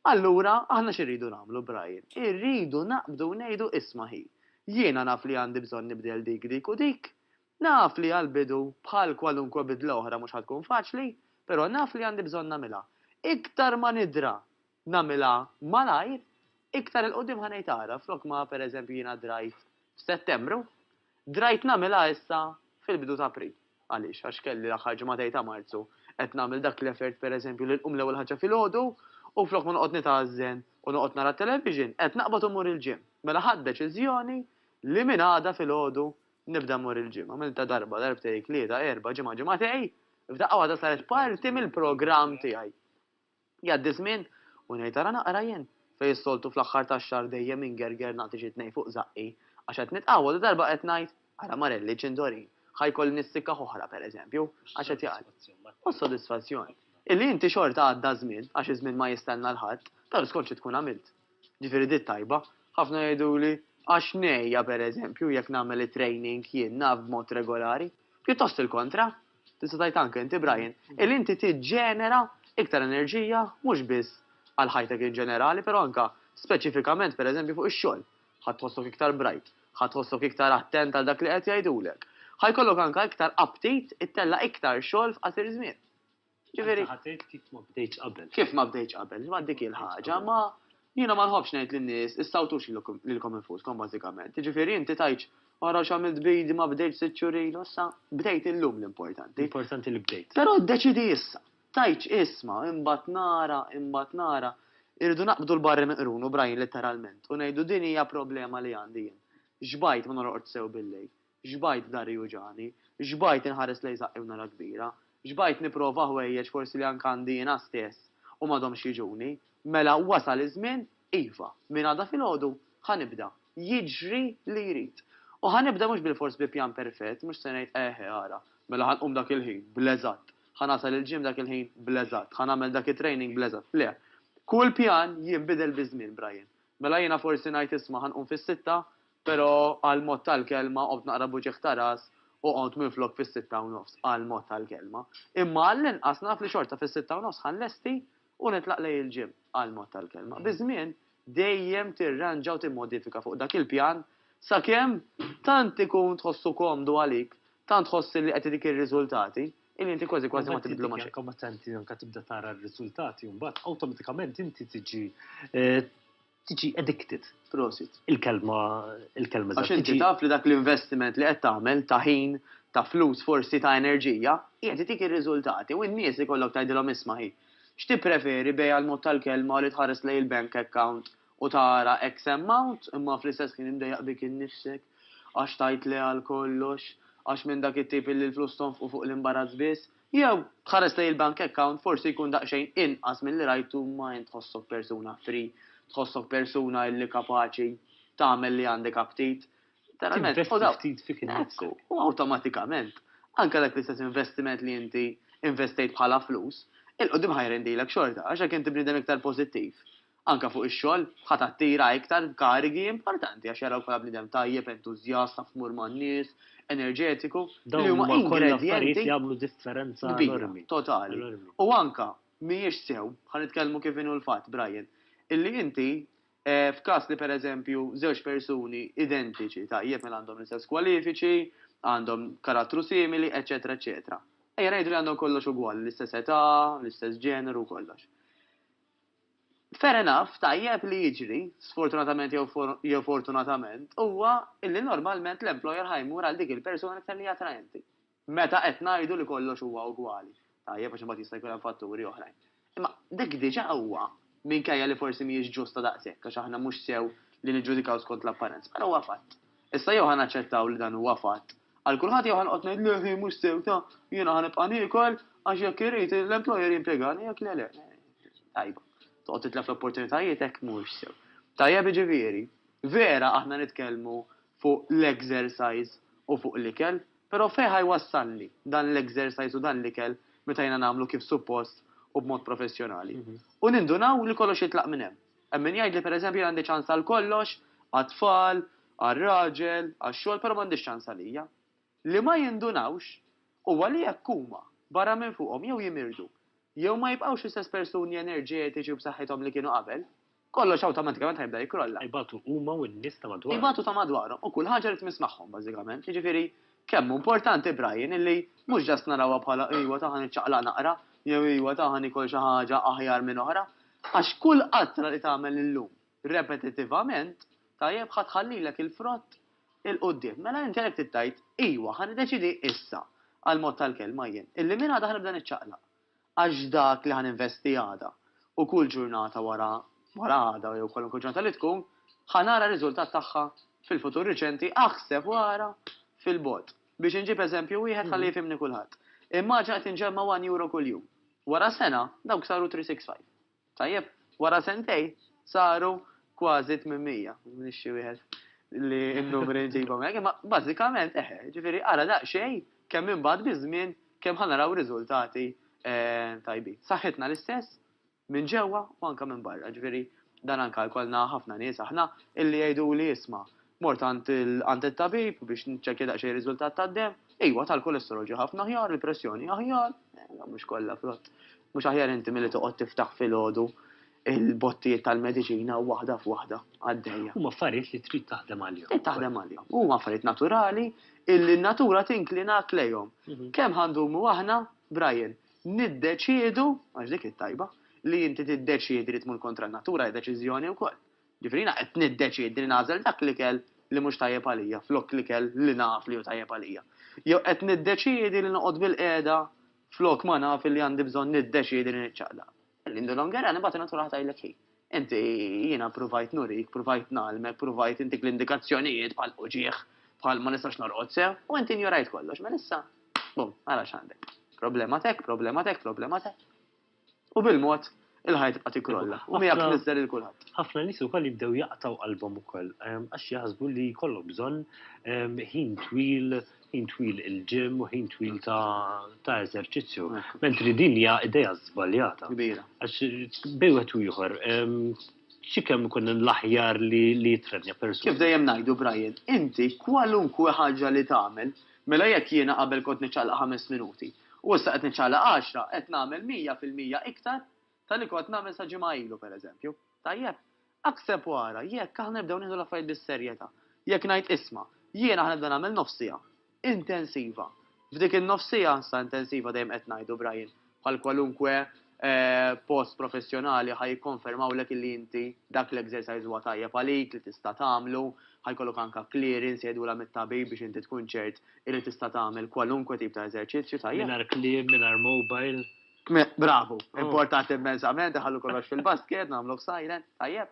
Allura, aħna xi rridu nagħmlu, Brian? Irridu naqbdu u ngħidu, 'Isma' ħi, jiena naf li għandi bżonn nibdel dik, dik u dik. Naf li għall-bidu, bħal kwalunkwe bidla oħra mhux ħa tkun faċli, però naf li għandi bżonn nagħmilha. Iktar ma nidra nagħmilha malajr, iktar 'il quddiem ħa ngħid ara, flok ma, pereżempju, jiena drajt f'Settembru, Drajt nagħmilha issa fil-bidu ta' April. Għaliex? Għax kelli l-aħħar ġimagħtej ta' Marzu qed nagħmel dak l-effort pereżempju li nqum l-ewwel ħaġa filgħodu u flok ma noqgħod nitgħażżen u noqgħod nara t-television, qed naqbad u mmur il-gym. Mela ħadt deċiżjoni li minn għada filgħodu nibda mmur il-gym. Għamiltha darba, darbtej, tlieta, erbgħa, ġimgħa, ġimagħtej, f'daqqa waħda saret parti mill-programm tiegħi. Jgħaddi ż-żmien u ngħid ara naqra jien, fejn s-soltu fl-aħħar tax-xahar dejjem ingerger nagħti xi tnejn fuq żaqqi, għax qed nitqawwa dadarba qed ngħid, ara Marelli ċindorin, ħa jkolli nissikkaħ oħra pereżempju, għax qed jgħaddi. U s-sodisfazzjon. Illi inti xorta għadda ż-żmien, għax iż-żmien ma jistenna 'l ħadd, taf skont xi tkun għamilt. Ġifieri di t-tajba. Ħafna jgħiduli, għax ngħejja pereżempju jekk nagħmel it-training jien, naf, b'mod regolari. Pjuttost il-kontra. Tista' tgħid anke inti Brian, illi inti tiġġenera iktar enerġija mhux biss għal ħajtek in ġenerali, però anke speċifikament pereżempju fuq ix-xogħol. Ħa tħossok iktar bright, ħa tħossok iktar attent għal dak li qed jgħidulek. Ħa jkollok anke iktar aptit ittella' iktar xogħol f'qasir żmien. Ġifieri. Anke ħa tgħid kif ma bdejtx qabel. Kif ma bdejtx qabel, ma dik hi l-ħaġa, ma Jiena ma nħobbx ngħid lin-nies issawtux lilkom infuskom bażikament. Jiġifieri inti tgħidx ara x'għamilt b'idi ma bdejtx sitt xhur ilu issa bdejt illum l-importanti. L-importanti li bdejt. Però ddeċiedi issa. Tgħidx isma' imbagħad nara, imbagħad nara. Irridu naqbdu l-barri minn qrunu, Brian, litteralment, u ngħidu din hija problema li għandi jien. Xbajt ma norqodx sew billejl. Xbajt dahri juġagħni. Xbajt inħares lejn saqqi u nara kbira. Xbajt nipprova ħwejjeġ forsi li anke għandi jiena stess u m'għadhomx jiġuni. Mela wasal iż-żmien, iva, minn għada filgħodu ħa nibda, jiġri li jrid. U ħa nibda mhux bilfors bi pjan perfett, mhux se ngħid eħe ara, mela ħa nqum dak il-ħin, bl-eżatt, ħa nasal il-gym dak il-ħin, bl-eżatt, ħa nagħmel dak it-training bl-eżatt. Le. Kull pjan jinbidel biż-żmien, Brian. Mela jiena forsi ngħid isma' ħa nqum fis-sitta, Pero qal mod tal-kelma, qombt naqra b'uġigħ ta' ras u qomt minflok fis-sitta u nofs, qal mod tal-kelma. Imma għall-inqas naf li xorta fis-sitta u nofs ħa nlesti u nitlaq lejn il-gym, qal mod tal-kelma. Biż-żmien, dejjem tirranġa u timmodifika fuq dak il-pjan sakemm tant ikun tħossu komdu għalik, tant tħoss li qed itik ir-riżultati, illi inti kważi kważi ma tibdlu ma' xejn. Imbagħad inti anke meta tibda tara r-riżultati, imbagħad awtomatikament inti tiġi Tiġi addicted. Prosit. Il-kelma, il-kelma eżatt. Għax inti taf li dak l-investiment li qed tagħmel ta' ħin, ta' flus forsi ta' enerġija, qiegħed itik ir-riżultati u n-nies ikollok tgħidilhom isma' hi, x'tippreferi bejgħ għall-mod tal-kelma u li tħares lejn il-bank account u tara X amount imma fl-istess ħin imdejjaq bik innifsek għax tgħid le għal kollox, għax minn dak it-tip illi l-flus tonfqu fuq l-imbarazz biss. Jew, tħares lejn il-bank account forsi jkun daqsxejn inqas milli rajtu ma int tħossok persuna free, tħossok persuna illi kapaċi tagħmel li għandek aptit. Tinvesti ftit fik innifsek. Ekku, u awtomatikament, anke dak l-istess investiment li inti investejt bħala flus, 'il quddiem ħa jrendilek xorta għax jekk inti bniedem iktar pożittiv, Anke fuq ix-xogħol, ħa tattira iktar karigi importanti għax jarawk bħala bniedem tajjeb, entużjast, taf tmur man-nies, enerġetiku, li huma ingredjenti kbira, totali. U anke, mhijiex sew, ħa nitkellmu kif inhu l-fatt, Brian, illi inti, f'każ li pereżempju żewġ persuni identiċi, tajjeb, mela għandhom l-istess kwalifiċi, għandhom karattru simili, eċċetera, eċċetera. Ejja ngħidu li għandhom kollox ugwali, l-istess età, l-istess ġeneru u kollox. Fair enough, tajjeb li jiġri, sfortunatament jew fortunatament, huwa li normalment l-employer ħa jmur għal dik il-persuna l-iktar li hi attraenti. Meta qed ngħidu li kollox huwa ugwali. Tajjeb għax imbagħad jista' jkun hemm fatturi oħrajn. Imma dik diġà huwa, minkejja li forsi mhijiex ġusta daqshekk għax aħna mhux sew li niġġudikaw skont l-apparenza, però huwa fatt. Issa jew ħa naċċettaw li dan huwa fatt għal kulħadd jew ħa noqgħod ngħid le hi mhux sew ta' jiena ħa nibqa' niekol għax jekk irid l-employer jimpjegani jekk le le. Tajba. Toqgħod titlef l-opportunitajiet hekk mhux sew. Tajjeb jiġifieri, vera aħna nitkellmu fuq l-exercise u fuq l-ikel, però fejn ħa jwassalni dan l-exercise u dan l-ikel meta jiena nagħmlu kif suppost u b'mod professjonali? U nindunaw li kollox jitlaq minn hemm. Hemm min jgħidli pereżempju jien għandi ċans għal kollox, għat-tfal, għar-raġel, għax-xogħol, però m'għandix ċans għalija. Li ma jindunawx huwa li jekk huma, barra minn fuqhom, jew jimirdu, jew ma jibqgħux l-istess persuni enerġetiċi u b'saħħithom li kienu qabel, kollox awtomatikament ħa jibda jikkrolla. Ibatu huma u n-nies ta' madwarhom. Ibatu ta' madwarhom u kull ħaġa li tmiss magħhom bażikament. Jiġifieri, kemm hu importanti, Brian, illi mhux just narawha bħala iwa ta' ħa niċċaqlaq naqra, jew iwa ta' ħa nikol xi ħaġa aħjar minn oħra, Għax kull qatra li tagħmel illum repetittivament, tajjeb, ħa tħallilek il-frott 'il quddiem. Mela inti għalhekk trid tgħid, Ijwa, ħa niddeċiedi issa, għall-mod tal-kelma jien, illi minn għada ħa nibda niċċaqlaq. Għax dak li ħa ninvesti għada, u kull ġurnata wara wara għada jew kwalunkwe ġurnata li tkun, ħa nara r-riżultat tagħha fil-futur riċenti, aħseb u ara fil-bogħod. Biex inġib eżempju wieħed ħalli jifhimni kulħadd. Immaġina qed inġemma' one euro kuljum. Wara sena, dawk saru 365. Tajjeb, wara sentejn saru kważi 800, nixxi wieħed li n-numri nġibhom hekk, imma bażikament eħe, ġifieri ara daqsxejn kemm imbagħad biż-żmien kemm ħa naraw riżultati ehm, tajbin. Saħħitna l-istess minn ġewwa u anke minn barra, ġifieri dan anke jkollna ħafna nies aħna illi jgħiduli isma' Mort għand it-tabib biex nċekkja daqsxejn riżultat tad-demm. Iwa, tal-kolesterol ġie ħafna aħjar, il-pressjoni aħjar, eh, mhux kollha frott. Mhux aħjar inti milli toqgħod tiftaħ filgħodu il-bottijiet tal-mediċina waħda f'waħda għaddejja. Huma affarijiet li trid taħdem għalihom. Trid taħdem għalihom. Huma affarijiet naturali illi n-natura tinklina lejhom. Mhm. Kemm ħandumu aħna, Brian, niddeċiedu, għax dik it-tajba, li inti tiddeċiedi li tmur kontra n-natura deċiżjoni wkoll. Jiġifieri jiena qed niddeċiedi li nagħżel dak l-ikel li mhux tajjeb għalija flok l-ikel li naf li hu tajjeb għalija. Jew qed niddeċiedi li noqgħod bilqiegħda flok ma naf illi għandi bżonn niddeċiedi li niċċaqlaq. Lindu Longerani mbagħad in-natura ħa tgħidlek hi. Inti, jiena pruvajt nurik, pruvajt ngħallmek, pruvajt intik l-indikazzjonijiet bħal uġigħ, bħal ma nistax norqod sew, u inti injorajt kollox. Mela issa, bum, ara x'għandek. Problema t'hekk, problema t'hekk, problema t'hekk. u bil-mod il-ħajja tibqa' tikkrolla u miegħek miżżer lil kulħadd. Ħafna nies ukoll jibdew jaqtgħu qalbhom ukoll għax jaħsbu li jkollhom bżonn ħin twil ħin twil il-ġim u ħin twil ta' eżerċizzju. Mentri din hija idea żbaljata. Kbira. Għax bej wieħed u ieħor xi kemm ikun l-aħjar li jitrenja persuna. Kif dejjem ngħidu Brian, inti kwalunkwe ħaġa li tagħmel, mela jekk jiena qabel kont niċċaqlaq ħames minuti, U issa qed niċċaqlaq għaxra, qed nagħmel mija fil-mija iktar ta' li kont nagħmel sa ġimgħa ilu, pereżempju. Tajjeb? Aħseb u ara, jekk aħna nibdew nieħdu l-affarijiet bis-serjetà, jekk ngħid isma', jiena ħanibda nagħmel nofs siegħa intensiva. F'dik in-nofs siegħa, sa intensiva dejjem qed ngħidu, Brian, bħal kwalunkwe post professjonali ħa jikkonfermawlek illi inti dak l-exercise huwa tajjeb għalik li tista' tagħmlu, ħa jkollok anke clearance jgħidulha mit-tabib biex inti tkun ċert illi tista' tagħmel kwalunkwe tip ta' eżerċizzju, tajjeb? Mingħajr kliem, mingħajr mobile. Bravu, importanti immensament, iħallu kollox fil-basket, nagħmluh silent, tajjeb?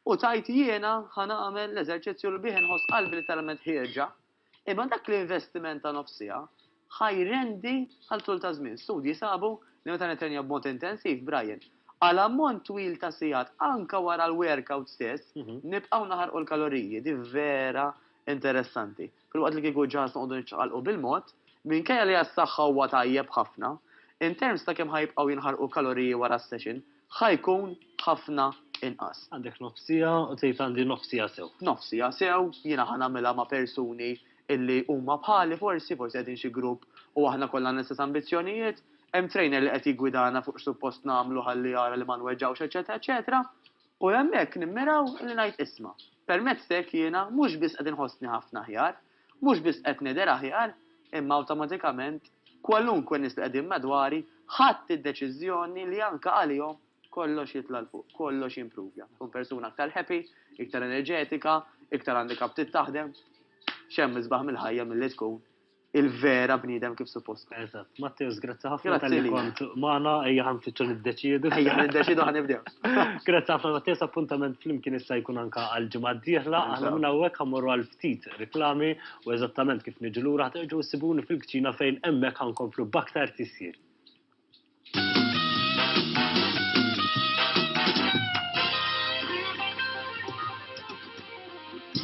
U tgħid jiena ħa nagħmel l-eżerċizzju li bih inħoss qalbi li talment ħierġa, Imma dak l-investiment ta' nofs siegħa ħa jrendi għal tul ta' żmien. Studji sabu li meta nittrenja b'mod intensiv, Brian, għal ammont twil ta' sigħat anke wara l-workout stess, nibqgħu naħarqu l-kaloriji. Din vera interessanti. Filwaqt li kieku ġaż noqogħdu niċċaqalqu bil-mod, minkejja li għas-saħħa huwa tajjeb ħafna, in terms ta' kemm ħa jibqgħu jinħarqu kaloriji wara s-session, ħa jkun ħafna inqas. Għandek nofs siegħa u tgħid għandi nofs siegħa sew. Nofs siegħa sew, jiena ħa nagħmilha ma' persuni illi huma bħali forsi, forsi qegħdin xi grupp u aħna kollha għandna l-istess ambizzjonijiet, hemm trainer li qed jiggwidana fuq x'suppost nagħmlu ħalli jara li ma nweġġgħux eċċetera eċċetera. U hemmhekk nimmiraw li ngħid isma', permezz t'hekk jiena mhux biss qed inħossni ħafna aħjar, Mhux biss qed nidher aħjar, imma awtomatikament kwalunkwe nies li qegħdin madwari ħadt id-deċiżjoni li anke għalihom kollox jitla' 'l fuq, kollox jimpruvja. Nkun persuna aktar happy, iktar enerġetika, iktar għandi kap trid taħdem. X'hemm isbaħ mill-ħajja milli tkun il-vera bniedem kif suppost tkun. Eżatt. Matteus, grazzi ħafna Grazzi tal-li lilek. kont magħna, ejja ħan fitxu niddeċiedu. Ejja niddeċidu ħa nibdew. Grazzi ħafna Matteus, appuntament flimkien issa jkun anka għal-ġimgħa d-dieħla, aħna Inshallah. minn hawnhekk ħammorru għal ftit riklami u eżattament kif niġi lura ħterġgħu ssibuni fil-kċina fejn hemmhekk ħankomplu b'aktar tisjir.